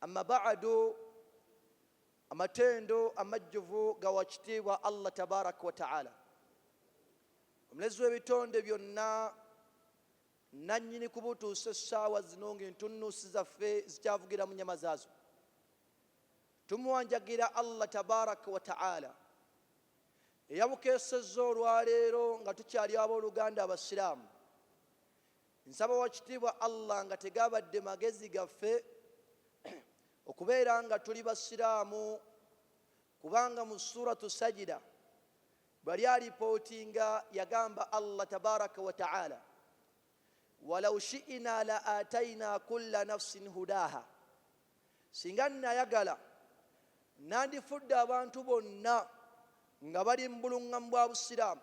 Amma ba'adu, amatendo amajjuvu gawa kitiibwa Allah tabaraka wa ta'ala, omulezi w'ebitonde byonna, nannyini kubutuusa essaawa zino ng'entunnuusi zaffe zikyavugira mu nyama zaazo. Tumuwanjagira Allah tabaraka wa ta'ala eyabukeesezza olwaleero nga tukyali abooluganda abasiraamu nsaba wakitiibwa allah nga tegabadde magezi gaffe okubeera nga tuli basiraamu kubanga mu suratu sajida bwali alipootinga yagamba allah tabaraka wataala walau shiina la ataina kulla nafsin hudaha singa nayagala nandifudde abantu bonna nga bali mu buluŋŋamu bwa busiraamu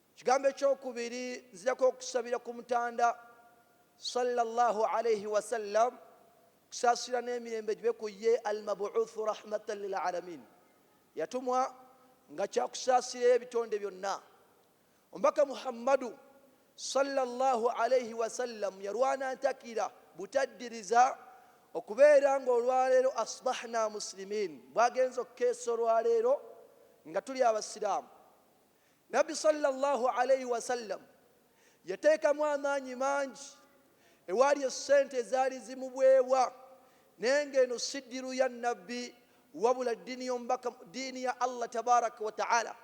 Ekigambo ekyokubiri nzirako okusabira ku mutanda sallallahu alaihi wasallam kusaasira n'emirembe gibe ku ye almabuuthu rahmatan lil alamin yatumwa nga kyakusaasira ebitonde byonna omubaka muhammadu sallallahu alaihi wasallam yalwana ntakira butaddiriza okubeera nga olwaleero asbahna muslimin bwagenza okukeesa olwaleero nga tuli abasiraamu Nabbi salla Llahu alaihi wasallam yateekamu amaanyi mangi ewaali essente ezaali zimuweebwa naye ng'eno si ddiru ya Nabbi wabula ddiini y'omubaka ddiini ya Allah tabaraka wa taala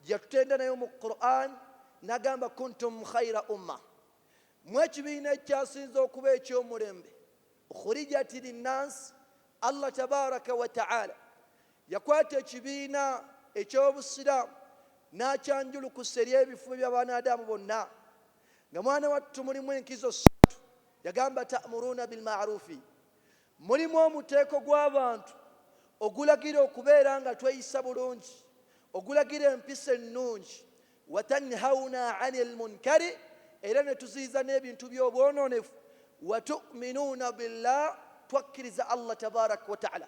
gyeyatutenda nayo mu Qur'an nagamba kuntum khaira umma mu ekibiina ekyasinza okuba ekyomulembe khurijati linnansi allah tabaraka wataala Yakwata ekibiina eky'Obusiraamu n'akyanjulukusa eri ebifuba bya banaadaamu bonna. Nga mwana wattu mulimu enkizo ssatu, yagamba, Ta'muruuna bil ma'ruufi, Mulimu omuteeko gw'abantu ogulagira okubeera nga tweyisa bulungi, ogulagira empisa ennungi, Wa tanhawuna 'anil munkari, Era ne tuziyiza n'ebintu by'obwonoonefu, Wa tu'minuuna billah, Twakkiriza Allah Tabaarak wa Ta'ala.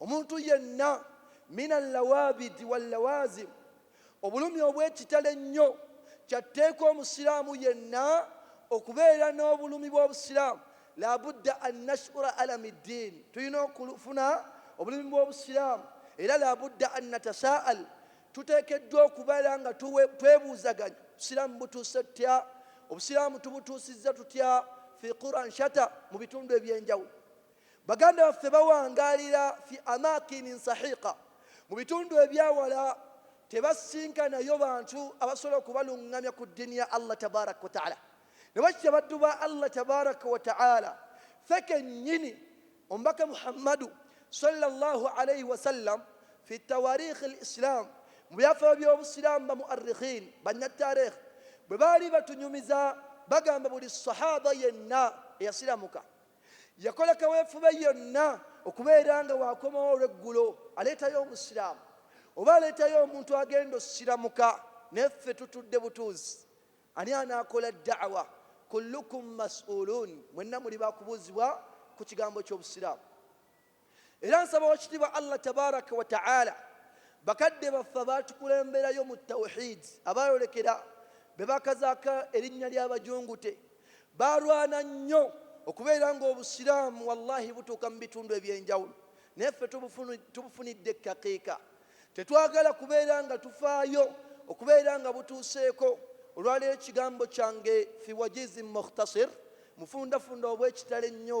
Omuntu yenna, min al-lawaabidi wal-lawaazim, obulumi obw'ekitalo ennyo, kya tteeka Omusiraamu yenna okubeera n'obulumi bw'Obusiraamu, laa budda an nash'ura alami ddiin, tulina okufuna obulumi bw'Obusiraamu, era laa budda an natasaa'al, tuteekeddwa okubeera nga twebuuzaganya, Obusiraamu butuuse tutya? Obusiraamu tubutuusizza tutya? Fii Quran shatta, mu bitundu eby'enjawulo. Baganda baffe bawangaalira fi amakinin sahiqa, mu bitundu ebyawala tebasisinkanayo bantu abasobola okubalungamya ku ddiini ya Allah tabaraka wa taala. Ne bwe kityo abaddu ba Allah tabaraka wa taala ffe kennyini omubaka Muhammadu sallallahu alaihi wasallam fi tawarikhi al Islam mu byafaayo by'Obusiraamu ba muarrikhin bannattareekh bwe baali batunyumiza bagamba buli sahaba yenna eyasiramuka Yakola kaweefube yonna okubeera nga wakomawo olweggulo aleetayo omusiraamu oba aleetayo omuntu agenda osiramuka naye ffe tutudde butuuzi ani anaakola daawa kullukum mas'uluun mwenna muli bakubuuzibwa ku kigambo ky'obusiraamu Era nsaba wakitiibwa Allah tabarak wa ta'ala bakadde baffe abaatukulemberayo mu tawhid abaayolekera bebakazaka erinnya ly'abajungute baalwana nnyo okubeera ng'obusiraamu wallahi butuuka mu bitundu eby'enjawulo naye ffe tubufunidde ekkakiika tetwagala kubeera nga tufaayo okubeera nga butuuseeko olwaleero ekigambo kyange fi wajizi mukhtasir mufundafunda obw'ekitalo ennyo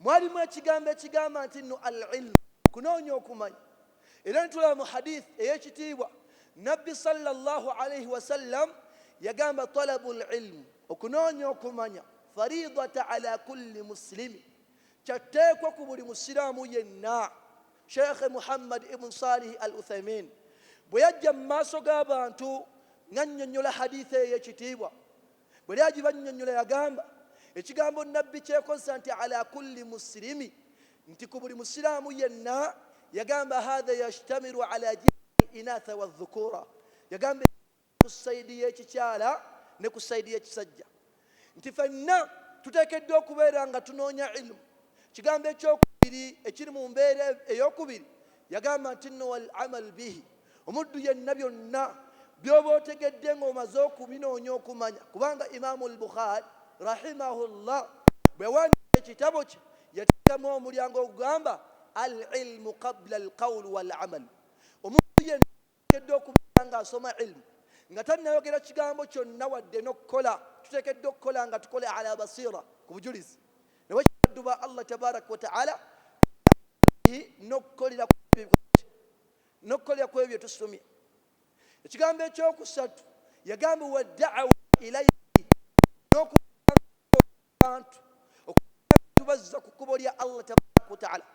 mwalimu ekigambo ekigamba nti nno al ilmu okunoonya okumanya era netulaba mu hadith eyekitiibwa nabbi salllah alaihi wasallam yagamba talabu lilmu okunoonya okumanya faridata ala kulli muslimi kyatteekwa ku buli musiraamu yenna sheikhe muhammad ibn salihi al uthaimin bwe yajja mu maaso g'abantu ng'annyonnyola haditha eyo ekitiibwa bwe yali agibannyonnyola yagamba, Ekigambo Nnabbi ky'ekozesa nti ala kulli muslimi nti ku buli Musiraamu yenna, yagamba haadha yashtamiru ala jihati inatha wa dhukuura, yagamba ku sayidi y'ekikyala ne ku sayidi y'ekisajja nti fenna tuteekeddwa okubeera nga tunoonya ilmu. Ekigambo eky'okubiri ekiri mu mbeera ey'okubiri yagamba nti nno wal amal bihi, Omuddu yenna byonna byoba otegedde nga omaze okubinoonya okumanya kubanga Imaamu al-Bukhaari rahimahullah bwe yawandiika ekitabo kye yateekamu omulyango ogugamba al-ilmu qabla al-qawlu wal-amal omuntu yenna ateekeddwa okubeera ng'asoma ilmu nga tannayogera kigambo kyonna wadde n'okukola tuteekeddwa okukola nga tukola ala basiira ku bujulizi nawe kibaddu ba Allah tabaraka wa ta'ala n'okukolera ku N'okukolera ku ebyo bye tusomye. Ekigambo eky'okusatu yagamba wa da'awa ilaihi n'okubantu okubazza ku kkubo lya Allah tabaraka wa ta'ala.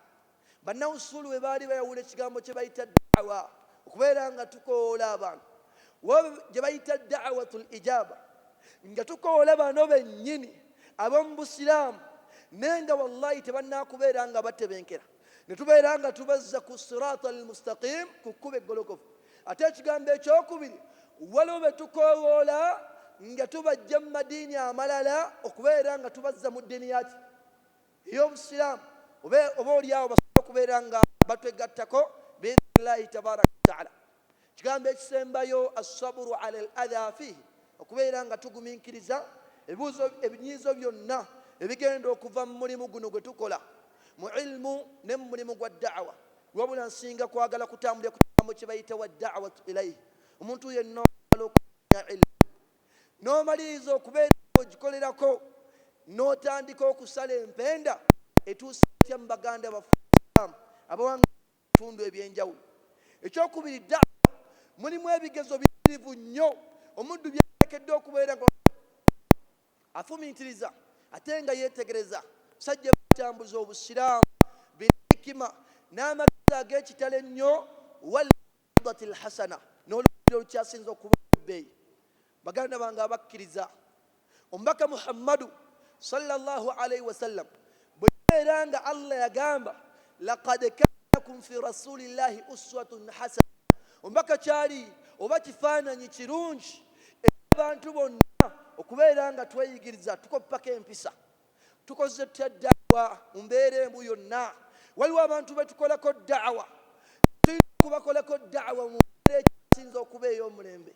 Bannawusuulu bwe baali bayawula ekigambo kye bayita da'awa okubeera nga tukoola abantu gye bayita da'awatul ijaba nga tukoola bano bennyini ab'omu Busiraamu naye nga wallahi tebanaakubeera nga batebenkera. ne tubeera nga tubazza ku siraata almustaqim ku kkuba eggolokofu ate ekigambo ekyokubiri waliwo be tukowoola nga tubajja mu madiini amalala okubeera nga tubazza mu ddiini yaki ey'obusiraamu oba olyawo basobola okubeera nga batwegattako biidhnillahi tabaraka wataala Ekigambo ekisembayo assaburu ala al adha fihi, okubeera nga tuguminkiriza ebibuuzo ebinyiizo byonna ebigenda okuva mu mulimu guno gwe tukola mu ilmu ne mu mulimu gwa da'wa. Wabula nsinga kwagala kutambulira ku kigambo kye bayita wa da'watu ilaihi, omuntu yenna okwagala okumanya ilmu n'omaliriza okubeera nga ogikolerako n'otandika okusala empenda etuusa etya mu baganda baffe abasiraamu abawangaalira bitundu eby'enjawulo. Eky'okubiri, ddaawa mulimu ebigezo biyitirivu nnyo omuddu by'ateekeddwa okubeera nga afumiitiriza ate nga yeetegereza abasajja abatambuza Obusiraamu bil hikima n'amagezi ag'ekitalo ennyo wal maw'idhatil hasana n'olugero olukyasinze okuba olw'ebbeeyi. Baganda bange abakkiriza, omubaka Muhammadu sallallahu alaihi wasallam bwe yabeera nga Allah yagamba laqad kaana lakum fi rasulillahi uswatun hasana, omubaka kyali oba kifaananyi kirungi eri abantu bonna okubeera nga tweyigiriza tukoppako empisa. Tukoze tutya da'wa mu mbeera embu yonna? Waliwo abantu be tukolako da'wa, tulina okubakolako da'wa mu mbeera ekyasinze okuba ey'omulembe.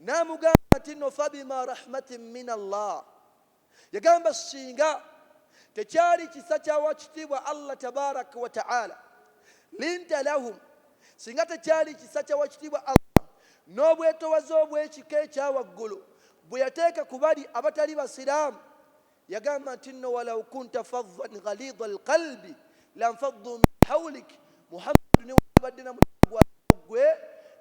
N'amugamba nti no fabima rahmatin min Allah, yagamba singa tekyali kisa kya wakitiibwa Allah tabarak wa ta'ala, linta lahum, singa tekyali kisa kya wakitiibwa Allah n'obwetowaze obw'ekika ekya waggulu bwe yateeka ku bali abatali basiraamu, Yagamba nti nno walau kunta faddan ghalidha alqalbi lanfaddu min hawlik, Muhammadu newandibadde na mutima gwa ggwe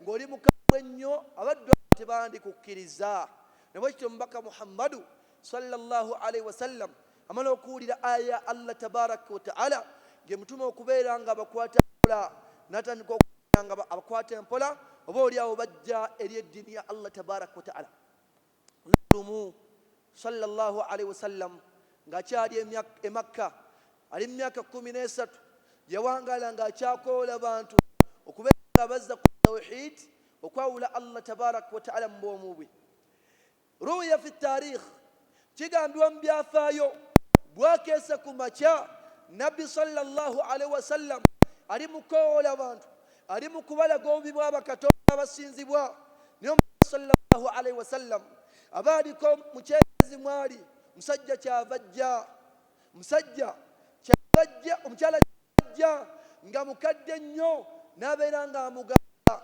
ng'oli mukambwe ennyo abaddu abo tebandikukkiriza. Na bwe kityo omubaka Muhammadu sallallahu alaihi wasallam amala okuwulira aya ya Allah tabaraka wa taala ng'emutuma okubeera nga abakwata mpola n'atandika okubeera nga abakwata empola oba oli awo bajja eri eddiini ya Allah tabaraka wa taala. Olunaku lumu salla llahu alaihi wasallam ng'akyali e Makka ali mu myaka kkumi n'esatu yawangaala ng'akyakoola bantu okubeera nga abazza ku tawhid okwawula Allah tabaraka wa taala mu bwomu bwe. Ruwiya fi taarikh kigambibwa mu byafaayo bwakeesa ku makya nabbi salla llahu alaihi wasallam ali mu kukowoola bantu ali mu kubalaga obubi bwa bakatonda abasinzibwa naye omubaka salllahu alaihi wasallam aba aliko mukyezi mwali musajja kyava jja musajja kyava jja omukyala kyavajja nga mukadde nnyo nabeera nga amugamba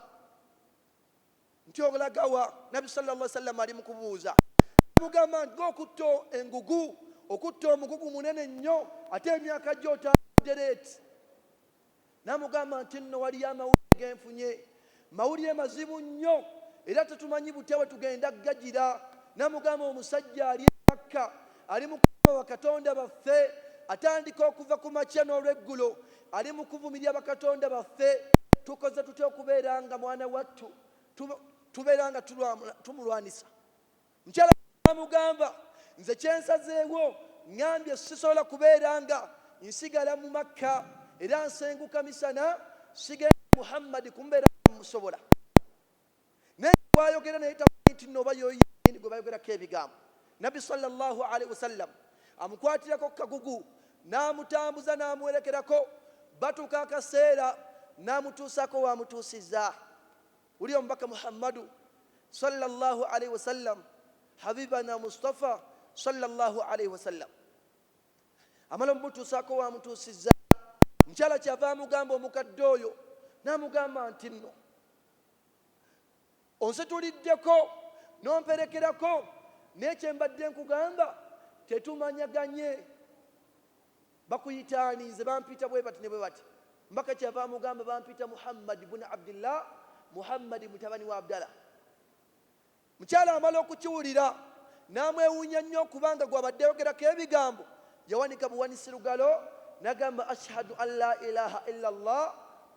nti olagawa nabbi salllah sallam ali mukubuuza amugamba nti gokutta engugu okutta omugugu munene nnyo ate emyaka gyotadereeti Namugamba nti nno waliyo amawulire genfunye, mawulire mazibu nnyo era tetumanyi butya bwetugenda gagira. Namugamba omusajja ali e Makka ali mu kuvuma bakatonda baffe, atandika okuva ku makya n'olweggulo ali mu kuvumirira bakatonda baffe, tukoze tutya okubeera nga mwana wattu tubeera nga tumulwanisa? Mukyala n'amugamba, Nze kye nsazeewo, ŋŋambye sisobola kubeera nga nsigala mu Makka era nsenguka misana sigenda Muhammad kumubeerako nga mmusobola. Naye nga bw'ayogera naye tamanyi nti nno oba y'oyo yennyini gwe bayogerako ebigambo. Nnabbi swalla Llaahu alaihi wasallam amukwatirako ku kagugu n'amutambuza n'amuwerekerako batuuka akaseera n'amutuusaako w'amutuusizza. Uli omubaka Muhammadu swalla Llahu alaihi wasallam habibana Mustafa swalla Llahu alaihi wasallam amala omutuusaako waamutuusizza mukyala kyava amugamba omukadde oyo n'amugamba nti nno onsituliddeko n'omperekerako naye kyembadde nkugamba tetumanyaganye Bakuyita ani? Nze bampita bwe bati ne bwe bati. Omubaka kyeyava amugamba, Bampita Muhammad bun Abdillah, Muhammadi mutabani wa Abdala. Omukyala amala okukiwulira n'amwewuunya nnyo kubanga gw'abadde ayogerako ebigambo yawanika buwanisi lugalo n'agamba, Ashhadu an la ilaha illa Allah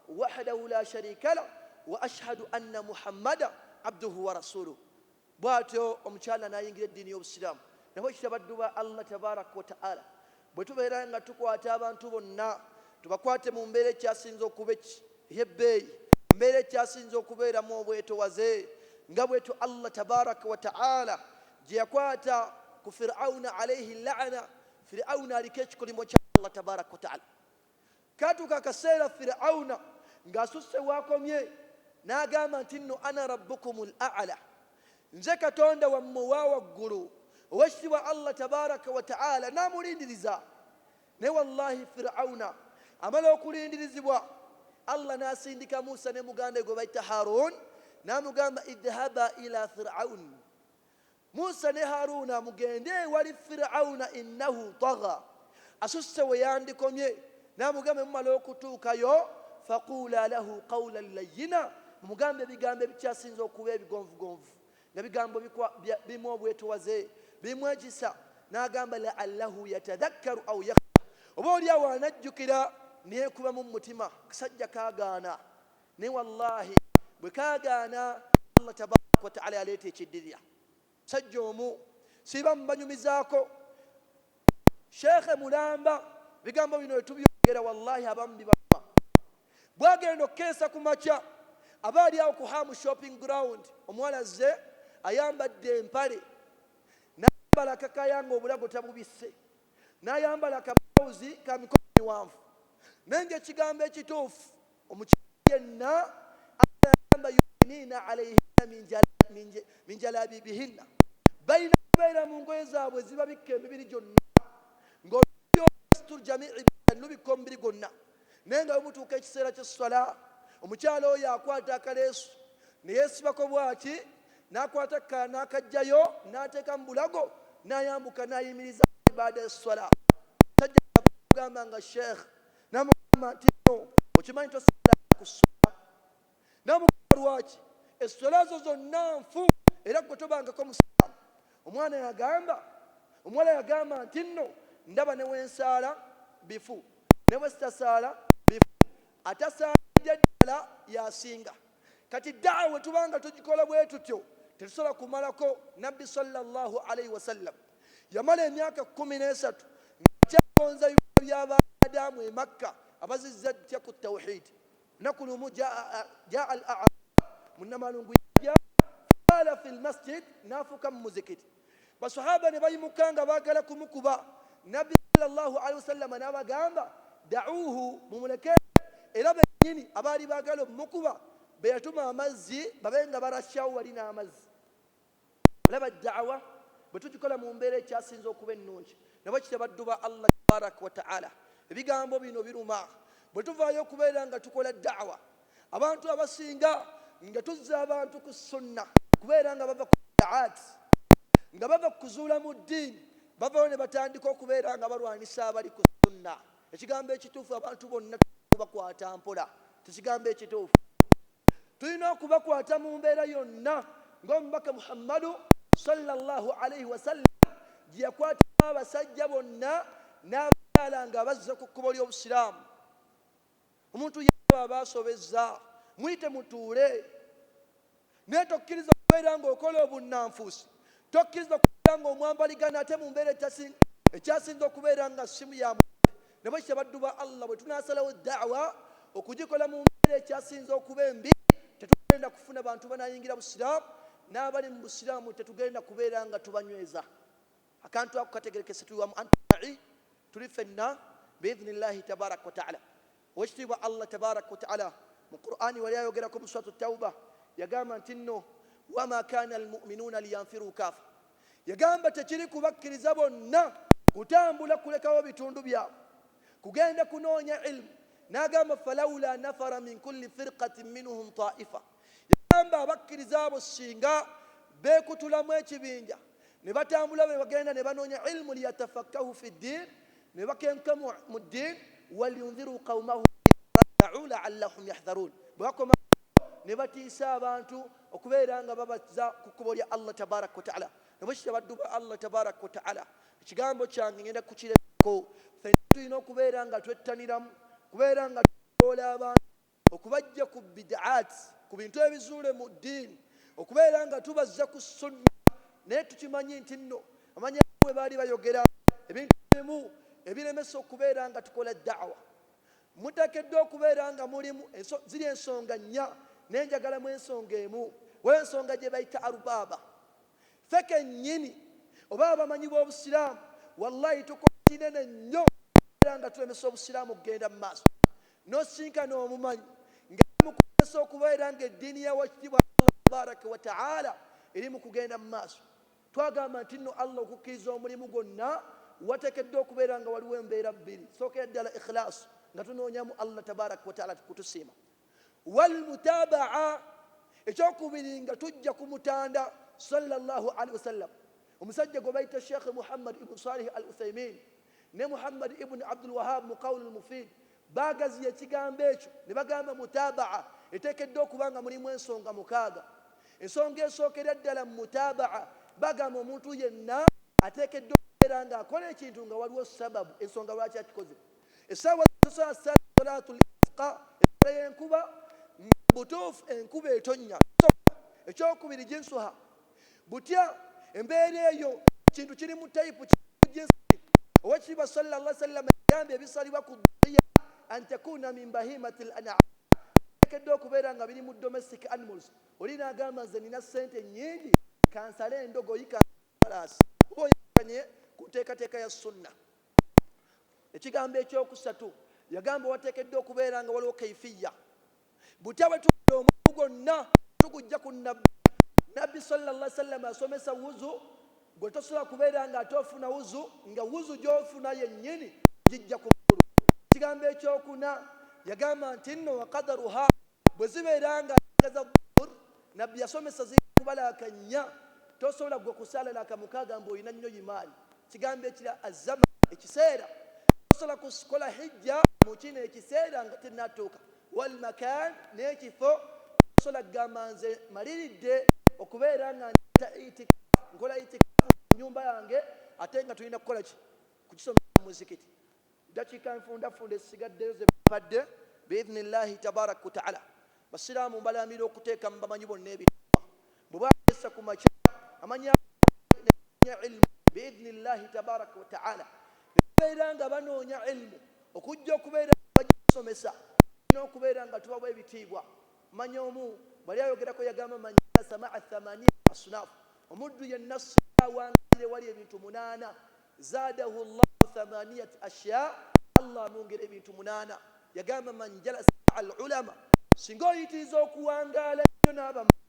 wahdahu la sharika lah wa ashhadu anna Muhammada abduhu wa rasuluh. Bwatyo omukyala nayingira eddiini y'obusiraamu. Nafe bwe kityo baddu ba Allah Tabarak wa Ta'ala bwe tubeera nga tukwata abantu bonna tubakwate mu mbeera ekyasinze okuba ey'ebbeeyi, mu mbeera ekyasinze okubeeramu obwetowaze nga bwetyo Allah Tabarak wa Ta'ala gye yakwata ku Fir'auna Alaihi La'ana. Fir'auna aliko ekikolimo kya Allah Tabarak wa Ta'ala. Katuuka akaseera Fir'auna ng'asusse w'akomye n'agamba nti nno ana rabbukumul a'ala, nze Katonda wammwe owa waggulu Oweekitiibwa Allah tabaaraka wa ta'aala n'amulindiriza. Naye wallaahi Fir'auna amala okulindirizibwa, Allah n'asindika Musa ne muganda we gwe bayita Haaruun n'amugamba idhhaba ila Fir'aun Musa ne Haruna mugende ewali Fir'auna innahu tagha asusse weyandikomye namugamba bwemumala okutuukayo faquula lahu qawlan layyina mumugambe ebigambo ebikyasinze okuba ebigonvugonvu nga bigambo bimu obwetowaze bimu ekisa nagamba la'allahu yatadhakkaru au yakhsha oba olyawo anajjukira neyekubamu mumutima kasajja kagaana naye wallahi bwe kaagaana allah tabaraka wataala yaleeta ekiddirira musajja omu siba mubanyumizaako sheekhe mulamba bigambo bino wetubyogera wallahi abamu bibaluma bwagenda okukeesa ku makya aba ali awo ku hamu shopping ground omuwala azze ayambadde empale nayambala kakayanga obulago tabubisse N'ayambala kabulawuzi ka mikono miwanvu. Naye ng'ekigambo ekituufu, omukyala yenna Allah yagamba, Yudiniina alaihinna min jala, min jalabibihinna, balina kubeera mu ngoye zaabwe ezibabikka emibiri gyonna, ng'olugoye olw'esitur jamii biddan lubikka omubiri gwonna. naye nga wemutuuka ekiseera kyesswala omukyala oyo akwata akaleesu neyesibako bwati nakwata kukala nakajjayo nateeka mu bulago nayambuka nayimiriza ibaada esswala sajjagamba nga sheikh namugamba nti no okimanyi tosala ku swala namugamba lwaki esswala zo zonna nfu era gwe tobangako musiraamu omwana yagamba omuwala yagamba nti nno ndaba ne wensaala bifu ne bwe sitasaala bifu atasaalidde ddala yasinga kati daawa we tuba nga tugikola bwe tutyo tetusobola kumalako nabbi salllah alaihi wasallam yamala emyaka kumi n'esatu ngakyagonza biba by'abaadaamu emakka abazizza ttya ku tawhidi lunaku lumu jaa al arab munamalungu yajja faala fi lmasjid nafuka mumuzikiti basahaba ne bayimuka nga bagala kumukuba nabbi salllahu alihi wasallama nabagamba dauhu mumuleke era benyini abaali bagala omumukuba beyatuma amazzi babe nga barasyawo wali n'amazzi Olaba da'wa bwe tugikola mu mbeera ekyasinze okuba ennungi, na bwe kityo abaddu ba Allah Tabarak wa Ta'ala ebigambo bino biruma. Bwe tuvaayo okubeera nga tukola da'wa abantu abasinga nga tuzza abantu ku sunna kubeera nga bava ku bid'at nga bava ku kuzuula mu ddiini bavayo ne batandika okubeera nga balwanisa abali ku sunna. ekigambo ekituufu abantu bonna kubakwata mpola kyekigambo ekituufu tulina okubakwata mu mbeera yonna ngaomubaka muhammadu salllah alaihi wasallam gyeyakwatamu abasajja bonna n'abakyala nga bazze ku kkubo ly'obusiraamu Omuntu yenna bw'aba asobezza, muyite mutuule. Naye tokkiriza kubeera ng'okola obunnanfuusi. Tokkiriza kubeera ng'omwambaligana ate mu mbeera ekyasinze okubeera nga ssimu ya mulembe. Ne bwe kityo, abaddu ba Allah bwe tunaasalawo da'wa okugikola mu mbeera ekyasinze okuba embi, tetugenda kufuna bantu banaayingira Busiraamu, n'abali mu Busiraamu tetugenda kubeera nga tubanyweza. akantu ako kategerekese tuli wamu antumai tuli fenna biidhini llahi tabaraka wataala owekitiibwa allah tabaraka wataala mu qurani wali ayogerako mu suratu tauba yagamba nti nno wama kana almuminuuna liyanfiru kaafa yagamba tekiri kubakkiriza bonna kutambula kulekawo bitundu byabwe kugenda kunoonya ilmu n'agamba falaula nafara min kulli firqatin minhum taifa Yagamba abakkiriza abo singa beekutulamu ekibinja ne batambula bwe bagenda ne banoonya ilmu liyatafakkahu fi ddiin ne bakenka mu ddiin waliyundhiru qaumahu rajau laallahum yahdharuun bwe bakoma ne batiisa abantu okubeera nga babaza ku kkubo lya allah tabaraka wataala ne bwekitya baddu ba allah tabaraka wataala ekigambo kyange ngenda kukirekako fenna tulina okubeera nga twettaniramu kubeera nga tuoola abantu okubajja ku bid'at ku bintu ebizuule mu ddiini okubeera nga tubazza ku sunna naye tukimanyi nti nno amanya bwe baali bayogera ebintu bimu ebiremesa okubeera nga tukola da'wa mutakeddwa okubeera nga mulimu ziri ensonga nnya naye njagala mu ensonga emu wensonga gye bayita arubaaba fe kennyini oba abamanyi b'obusiraamu wallahi tukola kinene nnyo era nga tulemesa obusiraamu okugenda mu maaso N'osisinkana omumanyi nga amukozesa okubeera nga eddiini ya wakitiibwa Allah tabaraka wa ta'ala eri mu kugenda mu maaso. Twagamba nti nno Allah okukkiriza omulimu gwonna wateekeddwa okubeera nga waliwo embeera bbiri, sookera ddala ikhilaasu nga tunoonyamu Allah tabaraka wa ta'ala kutusiima, wal mutaba'a ekyokubiri nga tujja ku mutanda sallallahu alaihi wasallam omusajja gwe bayita Sheikh Muhammad ibn Salih al Uthaymin ne Muhammad ibn Abdul Wahab mu Qawlul Mufid baagaziya ekigambo ekyo ne bagamba mutaabaa eteekeddwa okuba nga mulimu ensonga mukaaga. Ensonga esookera ddala mu mutaabaa bagamba omuntu yenna ateekeddwa okubeera ng'akola ekintu nga waliwo sababu, ensonga lwaki akikoze. Essaawa z'okusala ssala salaatul isqa, essala y'enkuba, nga mu butuufu enkuba etonnya. Ekyokubiri jinsuha. butya embeera eyo kintu kiri mu tayipu kijinsi owekitiibwa salla llah sallama yagambye ebisalibwa ku dhuhiya antakuna min bahimati l anam tekedde okubeera nga biri mu domestic animals oli nagamba nze nina sente nyingi kansale endogoyi kansalaasi oba oyakanye ku nteekateeka ya sunna ekigambo ekyokusatu yagamba watekedde okubeera nga waliwo kaifiya butya bwe tukola omuntu gwonna tugujja ku nabbi nabbi salllah sallama asomesa wuzu gwe tosobola kubeera nga ate ofuna wuzu nga wuzu gyofuna yennyini ogijja ku mukulu ekigambo ekyokuna yagamba nti nno wakadaruha bwe zibeera nga agaza Nabbi yasomesa zirina kubalaa kannya, tosobola ggwe kusaala na kamukaaga mbu olina nnyo imaani. Kigambo ekirala azzaman, ekiseera, tosobola kukola hijja mu kino ekiseera nga tennatuuka, wal makaan, n'ekifo, tosobola kugamba nze maliridde okubeera nga ndeeta itikaf, nkola itikaf mu nnyumba yange ate nga tulina kukola ki? Kukisomesa mu muzikiti. Ddakiika enfundafunda ezisigaddeyo ze babadde biidhni Llaahi tabaarak wa ta'ala. Basiraamu mbalaamira okuteeka mu bamanyi bonna ebitiibwa bwe bakeesa ku makya amanya amangi ne banoonya ilmu biidhni Llaahi tabaarak wa ta'ala ne babeera nga banoonya ilmu okujja okubeera nga bagisomesa tulina okubeera nga tubawa ebitiibwa manya omu bwali ayogerako yagamba man jalasa ma'a thamaniya asnaf omuddu yenna singa awangalira ewali ebintu munaana Zaadahu Llahu thamaniyat ashya, Allah amwongera ebintu munaana. Yagamba, man jalasa maa al ulama, singa oyitiriza okuwangaala ennyo n'abamanyi.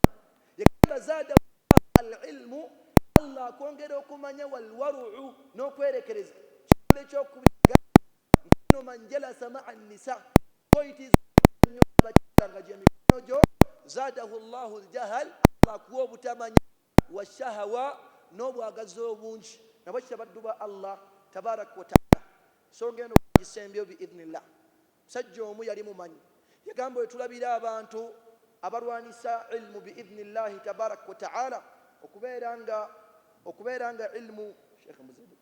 Yagamba, zaadahu Llahu al ilmu, Allah akwongera okumanya, wal waruu, n'okwerekereza. Ekigambo eky'okubiri yagamba, nkuno man jalasa maa nisa, singa oyitiriza okubeera ennyo n'abakyala nga gye mikwano gyo, zaadahu Llahu al jahal, Allah akuwa obutamanya. Wa shahawa, n'obwagazi obungi nabwo kya baddu ba Allah tabarak wa taala. Ensonga eno bwagisembyewo bi idhnillah. Omusajja omu yali mumanyi yagamba, Wetulabira abantu abalwanisa ilmu bi idhnillah tabarak wa taala okubeera nga okubeera nga ilmu, Sheikh Muzibula.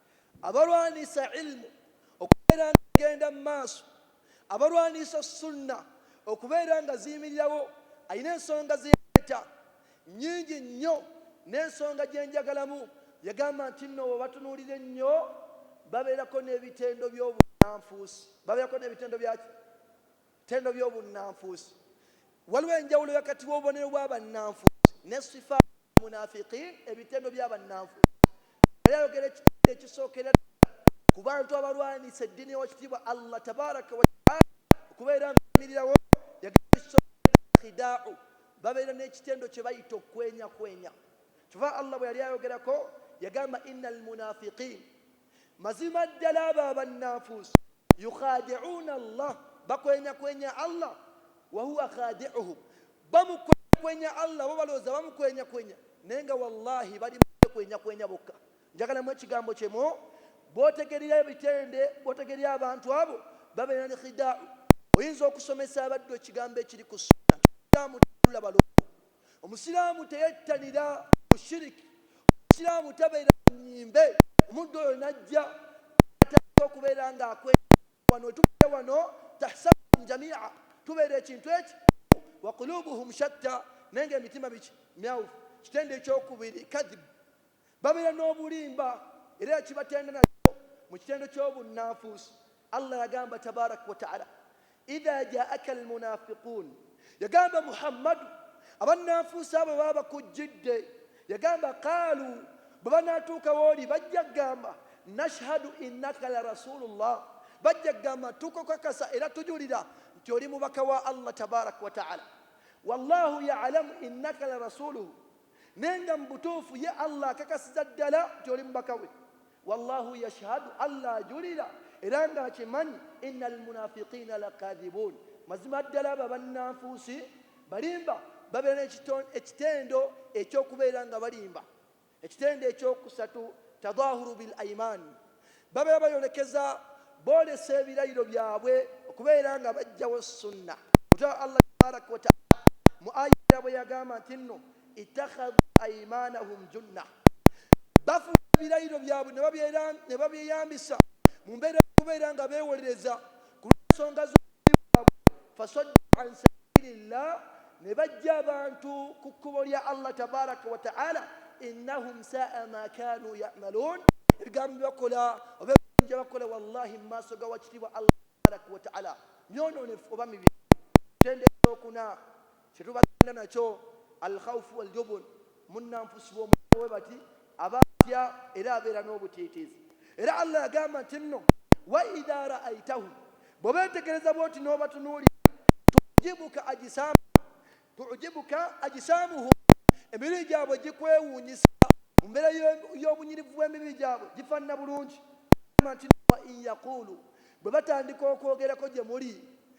abalwanisa ilmu okubeera nga egenda mu maaso abalwanisa sunna okubeera nga ziyimirirawo alina ensonga zeyaleeta nyingi nnyo n'ensonga gye njagalamu yagamba nti nno webatunuulira ennyo babeerako n'ebitendo by'obunanfuusi babeerako n'ebitendo byaki Ttendo by'obunnanfuusi Waliwo enjawulo wakati w'obubonero bw'abannanfuusi ne sifaa al-munaafiqiin, ebitendo by'abannanfuusi. Yali ayogera ekitendo ekisookera ddala ku bantu abalwanyisa eddiini ya Wakitiibwa Allah Tabaaraka wa Ta'aala okubeera nga eyimirirawo. Yagamba nti, Ekisookera ddala khidaa'u, babeera n'ekitendo kye bayita okukwenyakwenya. Ky'ova Allah bwe yali ayogerako yagamba, Inna al-munaafiqiin. mazima ddala abo abannanfuusi yukhadi'una allah bakwenyakwenya allah wahuwa khadi'uhum bamukwenyakwenya allah bo balowooza bamukwenyakwenya naye nga wallahi bali mukwenyakwenya bokka njagalamu ekigambo kyemu bwotegerera ebitende bwotegerera abantu abo babeera ne khida'u oyinza okusomesa abaddu ekigambo ekiri ku sunna Omusiraamu teyettanira mushiriki, Omusiraamu tabeera mu nnyimbe, omuddu oyo n'ajja atandika okubeera ng'akwekebera wano we tubadde wano tahsabuhum jamia tubeera ekintu eki wa kulubuhum shatta naye ng'emitima miki myawufu kitendo ekyokubiri kadhibu Babeera n'obulimba era ekibatenda nakyo mu kitendo ky'obunnanfuusi, Allah yagamba Tabarak wa Ta'ala, Idha ja'aka al-munafiqun, yagamba Muhammadu, abannanfuusi abo bwe baba bakujjidde, yagamba, Qaalu, bwe banaatuuka w'oli bajja kugamba, Nashhadu innaka la Rasuulullah, bajja kugamba, Tukukakasa era tujulira nti oli mubaka wa Allah Tabarak wa Ta'ala, Wallahu ya'lamu innaka la Rasuuluhu, Naye nga mu butuufu ye Allah akakasiza ddala nti oli mubaka we. Wallahu yashhadu, Allah ajulira era nga akimanyi, innal munafiqiina lakaadhibuun, mazima ddala abo abannanfuusi balimba. Babeera n'ekitendo eky'okubeera nga balimba, ekitendo eky'okusatu, tadhaahuru bil aimaan, Babeera bayolekeza, boolesa ebirayiro byabwe okubeera nga bajjawo sunna. Mutwala Allah tabarak wa taala mu aya endala bweyagamba nti nno, Ittakhadhu aimanahum junna, bafuula ebirayiro byabwe nebabyeyambisa mu mbeera y'okubeera nga beewolereza kulwensonga z'obubbi bwabwe faswaddu an sabili llah nebajja abantu ku kkubo lya Allah tabaraka wa ta'ala innahum saa ma kanu ya'malun ebigambo byebakola oba ebinja bakola wallahi mu maaso ga wakitiibwa Allah tabaraka wa ta'ala myononefu oba mibi tendekokuna Kye tubagenda nakyo, Al-khawfu wal-jubun, munnanfusi bw'omulaba bwe bati, aba atya era abeera n'obutiitiizi. Era Allah yagamba nti nno, Wa idha ra'aitahum, bwe beetegereza bw'oti n'obatunuulira, tu'jibuka ajisaamuhum, tu'jibuka ajisaamuhum, emibiri gyabwe gikwewuunyisa, mu mbeera y'obunyirivu bw'emibiri gyabwe gifaanana bulungi, Allah yagamba nti nno, Wa in yaquulu, bwe batandika okwogerako gye muli,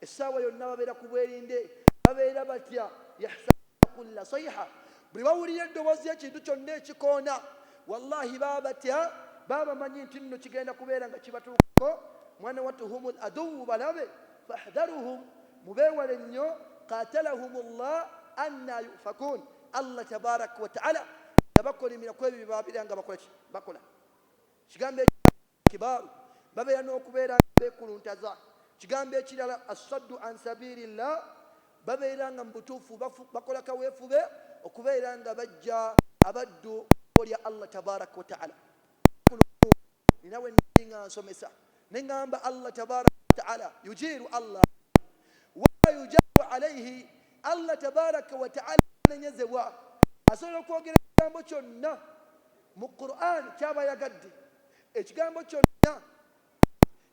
essaawa yonna babeera ku bwerinde babeera batya yahsabuna kulla saiha buli bawulira eddoboozi ekintu kyonna ekikoona wallahi baba batya baba bamanyi nti nno kigenda kubeera nga kibatuukako mwana wattu hum l aduwu balabe fahdharuhum mubeewale nnyo qatalahum llah anna yufakun allah tabaraka wataala yabakolimira ku ebyo byebabeera nga bakola kigambo Kibaaru, babeera n'okubeera nga beekuluntaza. Kigambo ekirala As-saddu an sabiili Llaah, babeera nga mu butuufu bakola kaweefube okubeera nga baggya abaddu mu kkubo lya Allah tabaaraka wa ta'aala. Olunaku lumu nnina bwe nnali nga nsomesa ne ngamba Allah tabaaraka wa ta'aala, Yujiiru Allah wala yujaaru alaihi, Allah tabaaraka wa ta'aala tanenyezebwa, asobola okwogera ekigambo kyonna Mu Qur'an kyaba ayagadde. Ekigambo kyonna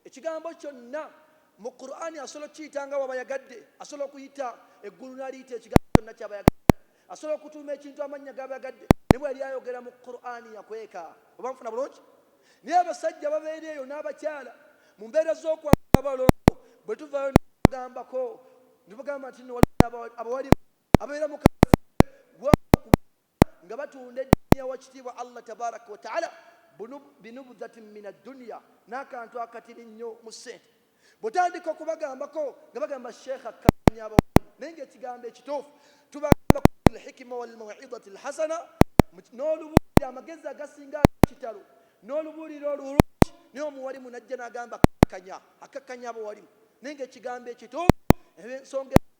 ekigambo kyonna mu Qur'an asobola okukiyita nga bwaba ayagadde. Asobola okuyita eggulu naliyita ekigambo kyonna kyaba ayagadde. Asobola okutuuma ekintu amannya gaba ayagadde naye bweyali ayogera mu Qur'an yakweka. Oba nfuna bulungi? Naye abasajja ababeera eyo n'abakyala mu mbeera z'okwagala abalongo bwetuvaayo nebagambako nebagamba nti nno waliwo abawalimu ababeera mu kafeero. nga batunda eddiini ya wakitiibwa Allah tabaraka wa taala binubudhatin min adduniya n'akantu akatini nnyo mu ssente bwotandika okubagambako nga bagamba sheekha kanya abawamu naye ng'ekigambo ekituufu tubagamba lhikima walmawidati lhasana n'olubuulira amagezi agasinga kitalo n'olubuulira olulungi naye omuwalimu najja n'agamba akakanya akakanya abawalimu naye ng'ekigambo ekituufu ensonga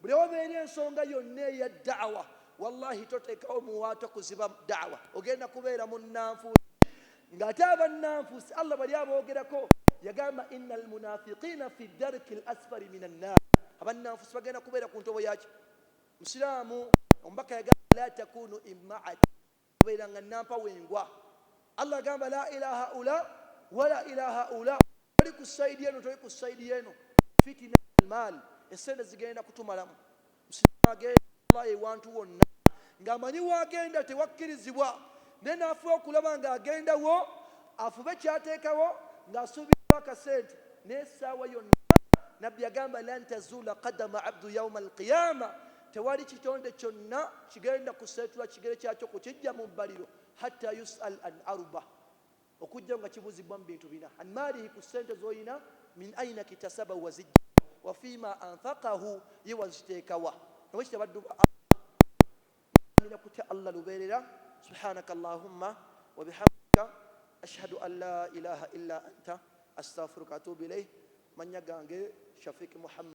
Buli awabeera ensonga yonna eya da'wa wallahi totekawo muwaato kuziba da'wa ogenda kubeera munnanfuusi nga ate abannanfuusi Allah bali aboogerako yagamba inna almunafiqiina fi darki lasfari min annaar abannanfuusi bagenda kubeera ku ntobo yaki musiraamu omubaka yagamba la takunu immaati Obeera nga nampa wengwa. Allah agamba, Laa ila haula wala ila haula, toli ku side eno toli ku side yeno, fitina almal, esente zigenda kutumalamu. Musiraamu agenda Allah ewantu wonna nga amanyi wagenda tewakkirizibwa, naye nafuba okulaba nga agenda wo, afube kyatekawo nga asuubirawo akasente, naye esaawa yonna, Nabbi agamba, Lan tazuula qadama abdu yauma alqiyama, Tewali kitonde kyonna kigenda kuseetula kigere kyakyo kukiggya mu bbaliro, hatta yus'al an arba, okujjako nga kibuuzibwa mu bintu bina, an maalihi ku ssente z'olina, min aina kitasabahu waziggya wa, wa fiima anfaqahu ye waziteeka wa. Na bwe kityo abaddu ba Allah basaanira kutya Allah lubeerera. Subhaanaka Allaahumma wa bihamdika ashhadu an laa ilaaha illaa anta astaghfiruka wa atuubu ilaih. Amannya gange Shafiq Muhammad.